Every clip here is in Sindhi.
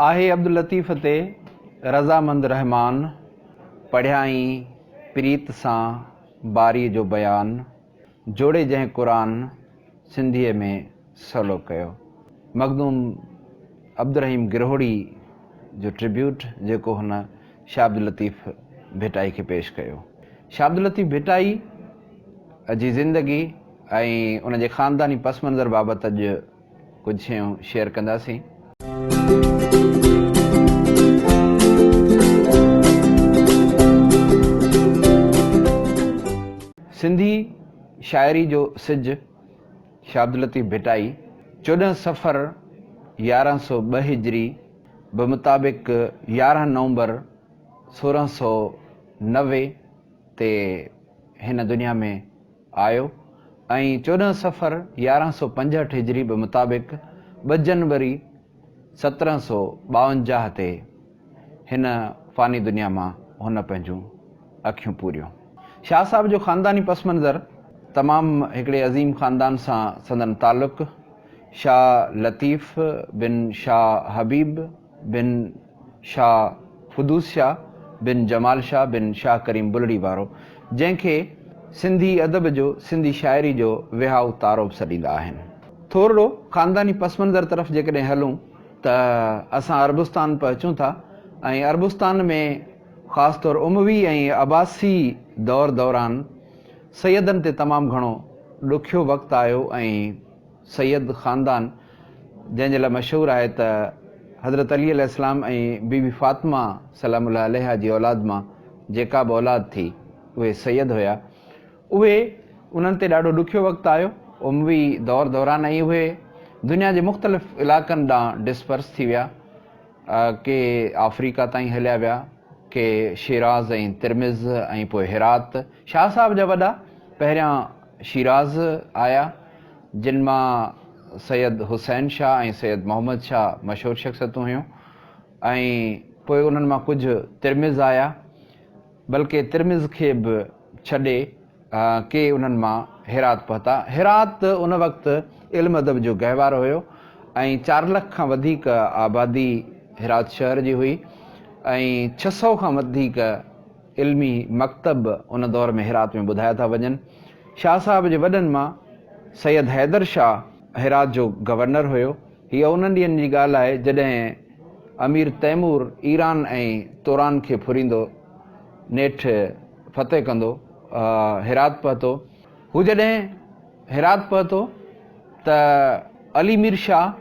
آهي عبداللطيف تي رضامند رحمان پڙهيائين پريت سان باري جو بيان جوڙي جنهن قرآن سنڌيء ۾ سولو ڪيو مخدوم عبدالرحيم گرهوڙي جو ٽربيوٽ جيڪو هن شاهه عبداللطيف ڀٽائي کي پيش ڪيو شاهه عبداللطيف ڀٽائي جي زندگي ۽ ان جي خانداني پس منظر بابت اڄ ڪجهه شيون شيئر ڪنداسين. سنڌي شاعري جو سج شاهه عبداللطيف ڀٽائي چوڏهن صفر يارهن سؤ ٻه هجري بمطابق يارهن نومبر سورهن سؤ نوي تي هن دنيا ۾ آيو ۽ چوڏهن صفر يارهن سؤ پنجهٺ هجري به مطابق ٻه جنوري سترهن سؤ ٻاونجاهه تي هن فاني دنيا مان هن پنهنجون اکيون پوريون. شاهه صاحب جو خانداني پس منظر تمام هڪڙي عظيم خاندان سان سندن تعلق شاهه لطيف بن شاهه حبيب بن. شاهه قدوس شاهه بن جمال شاهه بن شاهه ڪريم بلڙي وارو، جنهن کي سنڌي ادب جو، سنڌي شاعري جو وهائو تارو به سڏيندا آهن. ٿورڙو خانداني پس منظر طرف جيڪڏهن هلون ته اسان عربستان پهچون ٿا ۽ عربستان ۾ خاص طور اموي ۽ عباسي دور دوران سيدن تي تمام گهڻو ڏکيو وقت آيو ۽. سيد خاندان جنهن جي لاء مشهور آهي ته حضرت علي عليه السلام ۽ بي بي فاطمه سلام الله عليها جي اولاد مان جيڪا به اولاد ٿي اهي سيد هيا اهي انهن تي ڏاڍو ڏکيو وقت آيو اموي دور دوران ۽ اهي دنيا جي مختلف علاقن ڏانهن ڊسپرس ٿي ويا ڪي آفريڪا تائين هليا ويا ڪي شيراز ۽ ترمذ ۽ پوء هرات شاهه صاحب جا وڏا پهريان شيراز آيا، جن مان سيد حسين شاهه ۽ سيد محمد شاهه مشهور شخصيتون هيون ۽ پوء انهن مان ڪجهه ترمذ آيا، بلڪه ترمذ کي به ڇڏي ڪي انهن مان هرات پهتا. هرات ان وقت علم ادب جو گهوارو هيو ۽ چار لک کان وڌيڪ آبادي هرات شهر جي هئي ۽ ڇهه سؤ کان وڌيڪ علمي مڪتب به ان دور ۾ هرات ۾ ٻڌايا ٿا وڃن. شاهه صاحب جي وڏن مان سيد حيدر شاهه هرات جو گورنر هيو. هيء انهن ڏينهن جي ڳالهه آهي، جڏهن امير تيمور ايران ۽ توران کي ڦريندو نيٺ فتح ڪندو هرات پهتو. هو جڏهن هرات پهتو ته علي مير شاهه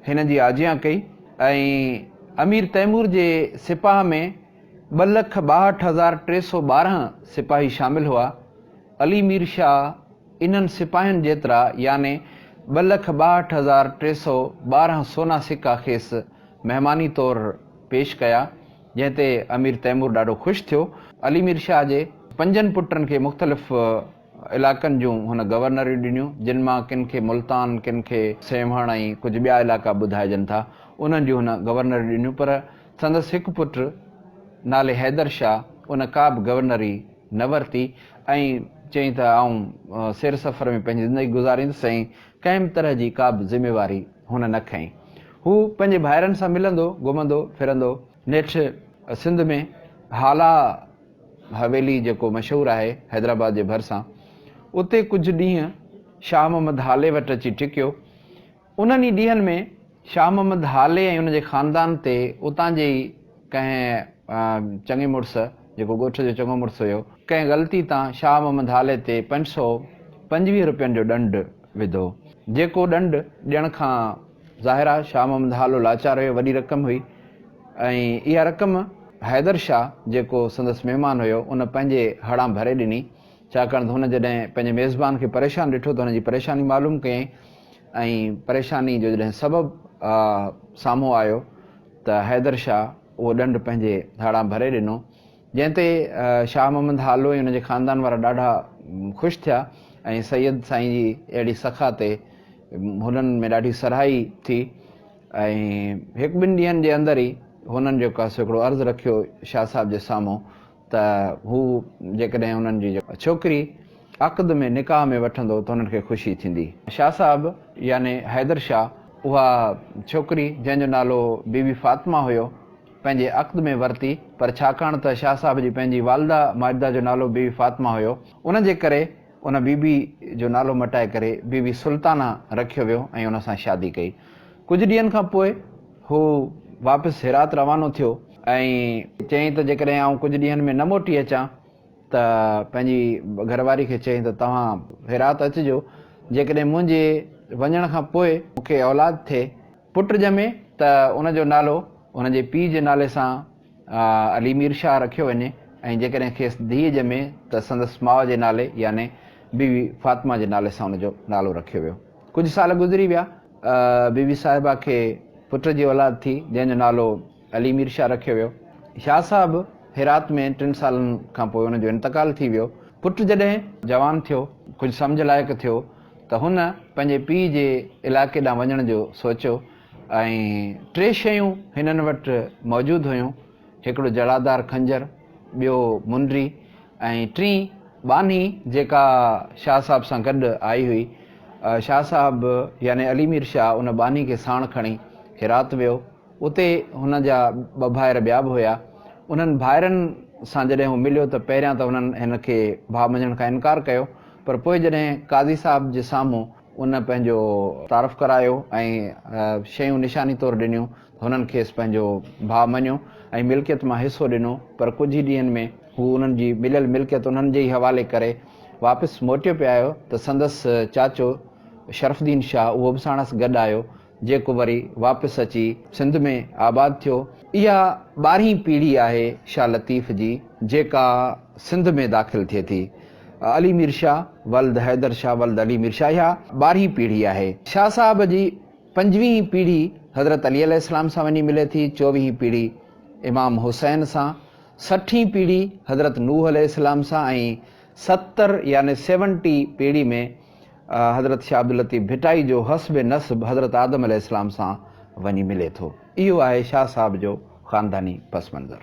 هن جي آجيان ڪئي ۽ امير تيمور جي سپاهه ۾ ٻه لک ٻاهٺ هزار ٽي سؤ ٻارهن سپاهي شامل هئا. علي مير شاهه انهن سپاهين جيترا يعني ٻه لک ٻاهٺ هزار ٽي سؤ ٻارهن سونا سڪا کيس مهماني طور پيش ڪيا، جنهن تي امير تيمور ڏاڍو خوش ٿيو. علي مير شاهه جي پنجن پٽن کي مختلف علائقن جون هن گورنريون ڏنيون، جن مان ڪن کي ملتان، ڪن کي سيوهڻ ۽ ڪجهه ٻيا علائقا ٻڌائجن ٿا، انهن جون هن گورنريون ڏنيون، پر سندس هڪ پٽ نالي حيدر شاهه ان ڪا به گورنري نه ورتي ۽ چيائين ته آئون سير سفر ۾ پنهنجي زندگي گذاريندس ۽ ڪنهن به طرح جي ڪا به ذميواري هن نه کنئي. هو پنهنجي ڀائرن سان ملندو گهمندو ڦرندو. نيٺ سنڌ ۾ هالا حويلي جيڪو مشهور آهي حيدرآباد جي ڀرسان اتي ڪجهه ڏينهن شاهه محمد هالي وٽ اچي ٽڪيو انهن ئي ڏينهن ۾ شاهه محمد هالي ۽ ان جي خاندان تي اتان جي ئي ڪنهن چڱي مڙس، جيڪو ڳوٺ جو چڱو مڙس هيو، ڪنهن غلطي تان شاهه محمد هالي تي پنج سؤ پنجويهه روپين جو ڏنڊ وڌو، جيڪو ڏنڊ ڏيڻ کان ظاهر آ شاهه محمد هالو لاچار هيو، وڏي رقم هئي ۽ اها رقم حيدر شاهه جيڪو سندس مهمان هيو، ان پنهنجي هڙان ڀري ڏني. ڇاڪاڻ ته هن جڏهن پنهنجي ميزبان کي پريشان ڏٺو ته هن جي پريشاني معلوم ڪيائين ۽ پريشاني جو جڏهن سبب سامهون آيو ته حيدر شاهه اهو ڏنڊ پنهنجي هاڙان ڀري ڏنو جنهن تي شاهه محمد هالو ۽ هن جي خاندان وارا ڏاڍا خوش ٿيا ۽ سيد سائين جي اهڙي سخا تي هنن ۾ ڏاڍي سرهائي ٿي ۽ هڪ ٻن ڏينهن جي اندر ئي هنن جيڪو سو هڪڙو عرض رکيو شاهه صاحب جي سامهون ته هو جيڪڏهن انهن جي ڇوڪري عقد ۾ نڪاح ۾ وٺندو ته هنن کي خوشي ٿيندي. شاهه صاحب يعني حيدر شاهه اها ڇوڪري جنهن جو نالو بي بي فاطمه هيو پنهنجي عقد ۾ ورتي پر ڇاڪاڻ ته شاهه صاحب جي پنهنجي والده ماجده جو نالو بي بي فاطمه هيو ان جي ڪري ان بي بي جو نالو مٽائي ڪري بي بي سلطانه رکيو ويو ۽ ان سان شادي ڪئي ڪجهه ڏينهن کان پوء هو واپس هرات روانو ٿيو ۽ چيائين ته جيڪڏهن آئون ڪجهه ڏينهن ۾ نه موٽي اچان ته پنهنجي گهرواري کي چيائين ته توهان هرات اچجو جيڪڏهن منهنجي وڃڻ کان پوء مون کي اولاد ٿئي پٽ ڄمي ته ان جو نالو هن جي پيء جي نالي سان علي مير شاهه رکيو وڃي ۽ جيڪڏهن کيس ڌيء ڄمي ته سندس ماء جي نالي يعني بيوي فاطمه جي نالي سان ان جو نالو رکيو ويو ڪجهه سال گذري ويا بي بي صاحبه کي پٽ جي اولاد ٿي، جنهن جو نالو علي مير شاهه رکيو ويو. شاهه صاحب هرات ۾ ٽن سالن کانپوء ان جو انتقال ٿي ويو. پٽ جڏهن جوان ٿيو، ڪجهه سمجهه لائق ٿيو ته هن پنهنجي پيء جي علائقي ڏانهن وڃڻ جو سوچيو ۽ ٽي شيون هنن وٽ موجود هيون، هڪڙو جڙادار خنجر، ٻيو منڊري ۽ ٽين ٻانهي جيڪا شاهه صاحب سان گڏ آئي هئي. شاهه صاحب يعني علي مير شاهه ان ٻانهي کي ساڻ کڻي هرات ويو. اتي هن جا ٻه ڀائر ٻيا به هيا. انهن ڀائرن سان جڏهن هو مليو ته پهريان ته هنن هن کي ڀاء مڃڻ کان انڪار ڪيو پر پوء جڏهن قاضي صاحب جي سامهون ان پنهنجو تعارف ڪرايو ۽ شيون نشاني طور ڏنيون ته هنن کيس پنهنجو ڀاء مڃيو ۽ ملڪيت مان حصو ڏنو پر ڪجهه ئي ڏينهن ۾ هو انهن جي مليل ملڪيت انهن جي ئي حوالي ڪري واپس موٽيو پي آيو ته سندس چاچو شرف الدين شاهه اهو به ساڻس گڏ آيو جيڪو وري واپس اچي سنڌ ۾ آباد ٿيو. اها ٻارهين پيڙهي آهي شاهه لطيف جي جيڪا سنڌ ۾ داخل ٿئي ٿي. علي مير شاهه ولد حيدر شاهه ولد علي مير شاهه اها ٻارهين پيڙهي آهي. شاهه صاحب جي پنجويهين پيڙهي حضرت علي عليه السلام سان وڃي ملي ٿي، چوويهين پيڙهي امام حسين سان، سٺين پيڙهي حضرت نوح عليه السلام سان ۽ ستر يعني سيونٽي پيڙهي ۾ حضرت شاهه عبداللطيف ڀٽائي جو حسب نسب حضرت آدم عليه السلام سان وڃي ملي ٿو. اهو آهي شاهه صاحب جو خانداني پس منظر.